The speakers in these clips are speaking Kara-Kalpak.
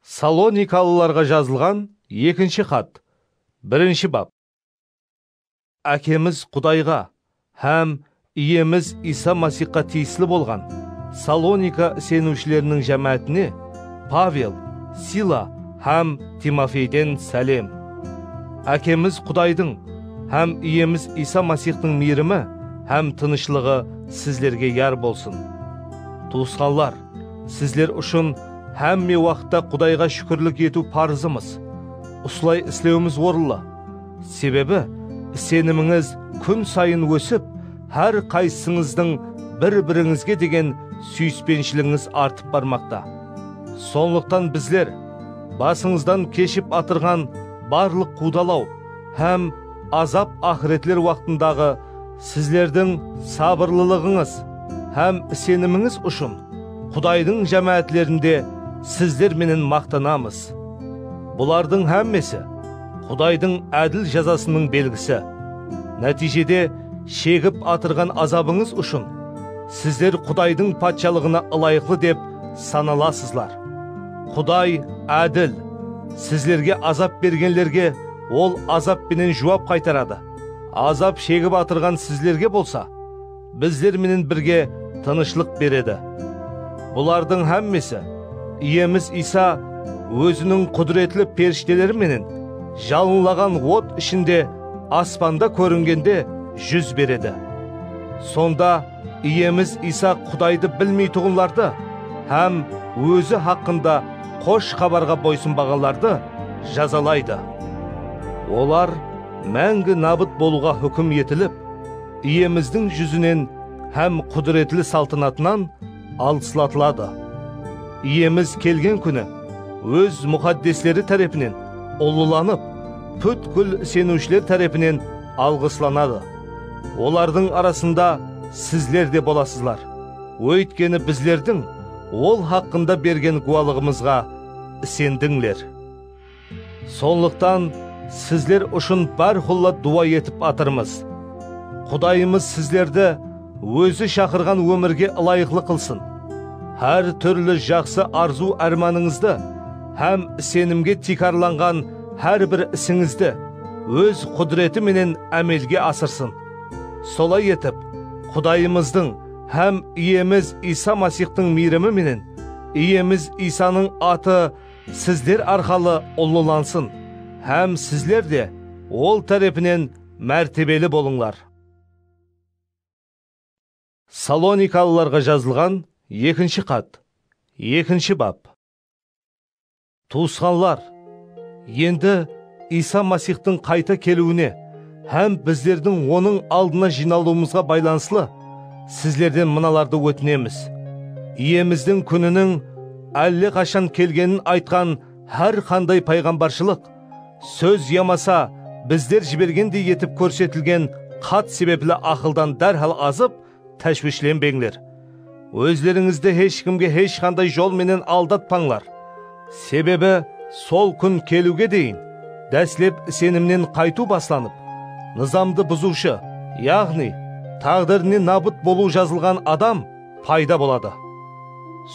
Salonikalılarǵa jazılǵan ekinshi xat, birinshi bap. Ákemiz Qudayǵa hám Iyemiz Iysa Masixqa tiyisli bolǵan Salonika iseniwshileriniń jámáátine Pavel, Sila hám Timofeyden sálem. Ákemiz Qudaydıń hám Iyemiz Iysa Masixtıń miyrimi hám tınıshlıǵı sizlerge yar bolsın. Tuwısqanlar, Sizler ushın hámme waqıtta Qudayǵa shúkirlik etiw parızımız. Usılay islewimiz orınlı. Sebebi, isenimińiz kún sayın ósip, hár qaysısıńızdıń bir-birińizge degen súyispenshiliginiz artıp barmaqta. Sonlıqtan bizler basıńızdan keship atırǵan barlıq quwdalaw hám azap-aqıretler waqtındaǵı Sizlerdiń sabırlılıǵıńız hám isenimińiz ushın Qudaydıń jámáátlerinde sizler menen maqtanamız. Bulardıń hámmesi, Qudaydıń ádil jazasınıń belgisi. Nátiyjede, shegip atırǵan azabıńız ushın sizler Qudaydıń Patshalıǵına ılayıqlı dep sanalasızlar. Quday ádil, sizlerge azap bergenlerge Ol azap penen juwap qaytaradı. Azap shegip atırǵan sizlerge bolsa bizler menen birge tınıshlıq beredi. Bulardıń hámmesi Iyemiz Iysa Óziniń qúdiretli perishteleri menen jalınlaǵan ot ishinde aspanda kóringende júz beredi. Sonda, Iyemiz Iysa Qudaydı bilmeytuǵınlardı hám Ózi haqqında Xosh Xabarǵa boysınbaǵanlardı jazalaydı. Olar máńgi nabıt bolıwǵa húkim etilip, Iyemizdiń júzinen hám qudiretli saltınatınan alıslatıladi. Iyemiz kelgen kúni Óz muxaddesleri tárepinen ullılanıp, pútkil iseniwshiler tárepinen alǵıslanadı. Olardıń arasında sizler de bolasızlar, óytkeni bizlerdiń Ol haqqında bergen gúwalıǵımızǵa isendińler. Sonlıqtan sizler ushın bárqulla duwa etip atırmız. Qudayımız sizlerdi Ózi shaqırǵan ómirge ılayıqlı qılsın, hár túrli jaqsı arzıw-ármanıńızdı hám isenimge tiykarlanǵan Hár bir isińizdi Óz qúdireti menen ámelge asırsın. Solay etip, Qudayımızdıń hám Iyemiz Iysa Masixtıń miyrimi menen Iyemiz Iysanıń atı sizler arqalı ullılansın hám sizler de Ol tárepinen mártebeli bolıńlar. Salonikalılarǵa jazılǵan ekinshi xat, ekinshi bap. Tuwısqanlar, endi Iysa Masixtıń qayta keliwine hám bizlerdiń Onıń aldına jıynalıwımızǵa baylanıslı sizlerden mınalardı ótinemiz, Iyemizdiń kúniniń álle qashan kelgenin aytqan hár qanday payǵambarshılıq sóz yamasa bizler jibergendey etip kórsetilgen xat sebepli aqıldan dárhal azıp, Táshwishlenbeńler, ózlerińizdi hesh kimge hesh qanday jol menen aldatpańlar. Sebebi, sol kún keliwge deyin dáslep isenimnen qaytıw baslanıp, nızamdı buzıwshı, yaǵnıy, táǵdirine nabıt bolıw jazılǵan adam payda boladı.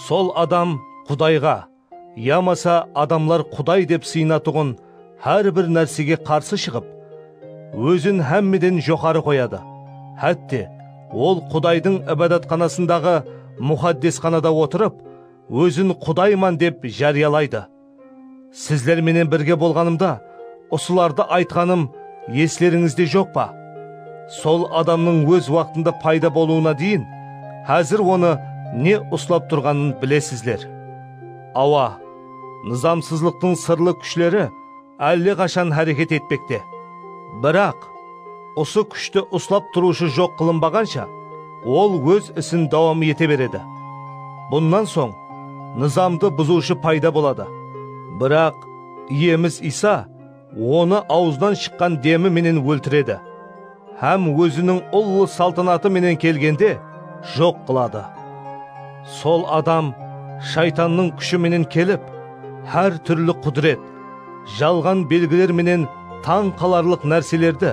Sol adam Qudayǵa, Yamasa adamlar quday dep sıynatuǵın hár bir nársege qarsı shıǵıp, ózin hámmeden joqarı qoyadı, hátte, ol qudaydıń ibadatxanasındaǵı muxaddesxanada otırıp, ózin qudayman dep járiyalaydı. Sizler menen birge bolǵanımda, Usılardı aytqanım eslerińizde joq pa? Sol adamnıń óz waqtında payda bolıwına deyin, házir onı ne uslap turǵanın bilesizler. Awa, nızamsızlıqtıń sırlı kúshleri álle qashan háreket etpekte. Biraq, usı kúshti uslap turıwshı joq qılınbaǵansha, ol óz isin dawam ete beredi. Bunnan soń, nızamdı buzıwshı payda boladı. Biraq, Iyemiz Iysa Onı awızınan shıqqan demi menen óltiredi hám Óziniń ullı saltanatı menen kelgende joq qıladı. Sol adam Shaytannıń kúshi menen kelip, hár túrli qudiret, jalǵan belgiler menen tań qalarlıq nárselerdi,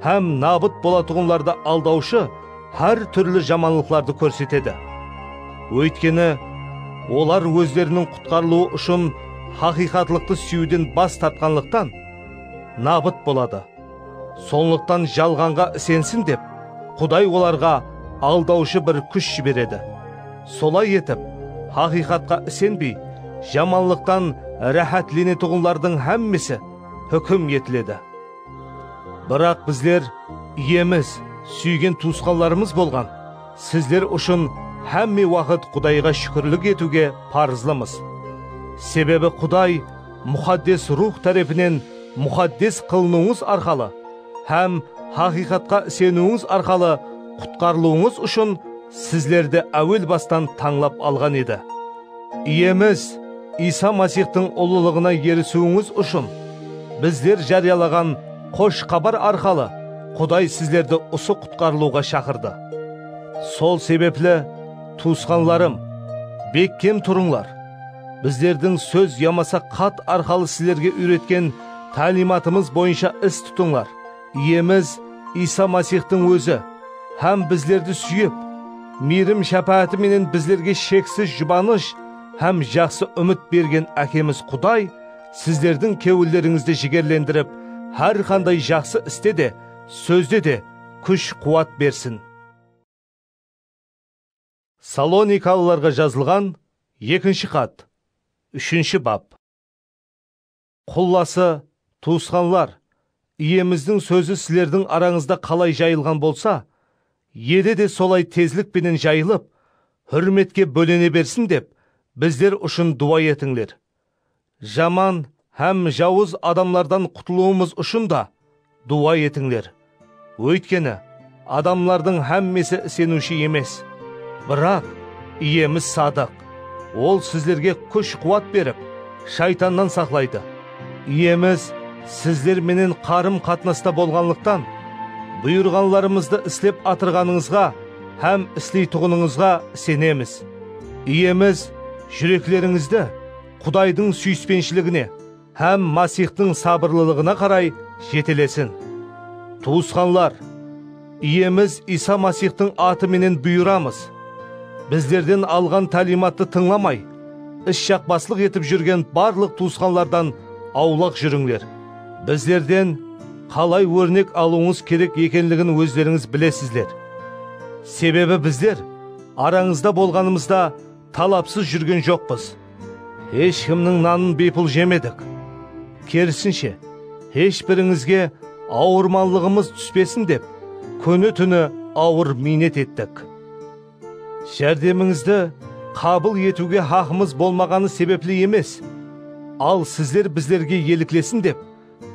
Hám nabıt bolatuǵınlardı aldawshı hár túrli jamanlıqlardı kórsetedi. Óytkeni, olar ózleriniń qutqarılıwı ushın haqıyqatlıqtı súyiwden bas tartqanlıqtan, nabıt boladı. Sonlıqtan jalǵanǵa isensin dep, Quday olarǵa aldawshı bir kúsh jiberedi. Solay etip, haqıyqatqa isenbey, jamanlıqtan ráhátlenetuǵınlardıń hámmesi húkim etiledi. Biraq bizler Iyemiz, súygen tuwısqanlarımız bolǵan sizler ushın hámme waqıt Qudayǵa shúkirlik etiwge parızlımız. Sebebi Quday Muxaddes Ruwx tárepinen muxaddes qılınıwıńız arqalı hám haqıyqatqa iseniwińiz arqalı qutqarılıwıńız ushın sizlerdi áwel bastan tańlap alǵan edi. Iyemiz Iysa Masixtıń ullılıǵına erisiwińiz ushın, bizler járiyalaǵan Xosh Xabar arqalı Quday sizlerdi usı qutqarılıwǵa shaqırdı. Sol sebepli, tuwısqanlarım, bekkem turıńlar! Bizlerdiń sóz yamasa xat arqalı sizlerge úyretken táliymatımız boyınsha is tutıńlar. Iyemiz Iysa Masixtıń Ózi hám bizlerdi súyip, miyrim-shápááti menen bizlerge sheksiz jubanısh hám jaqsı úmit bergen Ákemiz Quday sizlerdiń kewillerińizdi jigerlendirip, hár qanday jaqsı iste de, sózde de kúsh-quwat bersin. Salonikalılarǵa jazılǵan ekinshi xat, úshinshi bap. Qullası, tuwısqanlar, Iyemizdiń sózi sizlerdiń arańızda qalay jayılǵan bolsa, Eli de solay tezlik penen jayılıp, húrmetke bólene bersin dep, bizler ushın duwa etińler. Jaman hám jawız adamlardan qutılıwımız ushın da Duwa etińler, óytkeni adamlardıń hámmesi iseniwshi emes. Biraq, Iyemiz sadıq, Ol sizlerge kúsh-quwat berip, shaytannan saqlaydı. Iyemiz sizler menen qarım-qatnasta bolǵanlıqtan, buyırǵanlarımızdı islep atırǵanıńızǵa hám isleytuǵınıńızǵa isenemiz. Iyemiz júreklerińizdi Qudaydıń súyispenshiligine, hám Masixtıń sabırlılıǵına qaray jetelesin. Tuwısqanlar, Iyemiz Iysa Masixtıń atı menen buyıramız, bizlerden alǵan táliymattı tıńlamay, is jaqpaslıq etip júrgen barlıq tuwısqanlardan awlaq júrińler. Bizlerden qalay órnek alıwıńız kerek ekenligin ózlerińiz bilesizler. Sebebi bizler arańızda bolǵanımızda, Talapsız júrgen joqpız. Hesh kimniń nanın biypul jemedik. Kerisinshe, hesh birińizge awırmanlıǵımız túspesin dep, kúni-túni awır miynet ettik. Járdemińizdi qabıl etiwge haqımız bolmaǵanı sebepli emes, al sizler bizlerge eliklesin dep,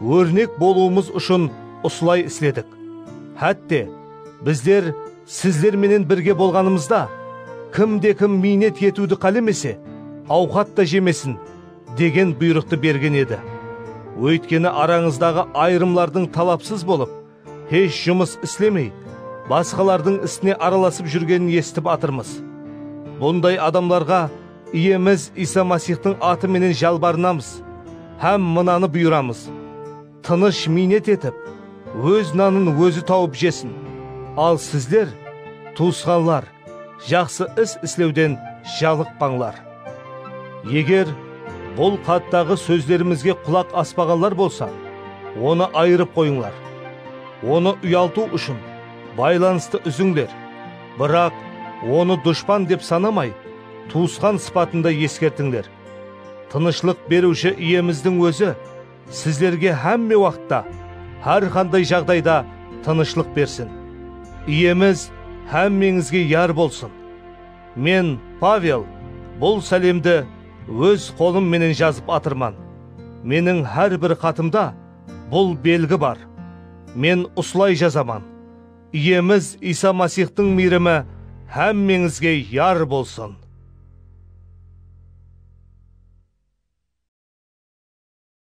Órnek bolıwımız ushın usılay isledik. Hátte, bizler sizler menen birge bolǵanımızda, kim de kim miynet etiwdi qálemese, awqat ta jemesin, degen buyrıqtı bergen edi. Óytkeni arańızdaǵı ayırımlardıń talapsız bolıp, Hesh jumıs islemey, basqalardıń isine aralasıp júrgenin esitip atırmız. Bunday adamlarǵa Iyemiz Iysa Masixtıń atı menen jalbarınamız hám mınanı buyıramız, Tınısh miynet etip, óz nanın ózi tawıp jesin. Al sizler, tuwısqanlar, jaqsı is islewden jalıqpańlar. Eger bul xattaǵı sózlerimizge qulaq aspaǵanlar bolsa, onı ayırıp qoyıńlar. Onı uyaltıw ushın baylanıstı úzińler, biraq onı dushpan dep sanamay, tuwısqan sıpatında eskertińler. Tınıshlıq Beriwshi Iyemizdiń Ózi! Sizlerge hámme waqıtta, hár qanday jaǵdayda tınıshlıq bersin. Iyemiz hámmeńizge yar bolsın. Men, Pavel, bul sálemdi óz qolım menen jazıp atırman. Meniń hár bir xatımda bul belgi bar. Men usılay jazaman, Iyemiz Iysa Masixtıń miyrimi hámmeńizge yar bolsın.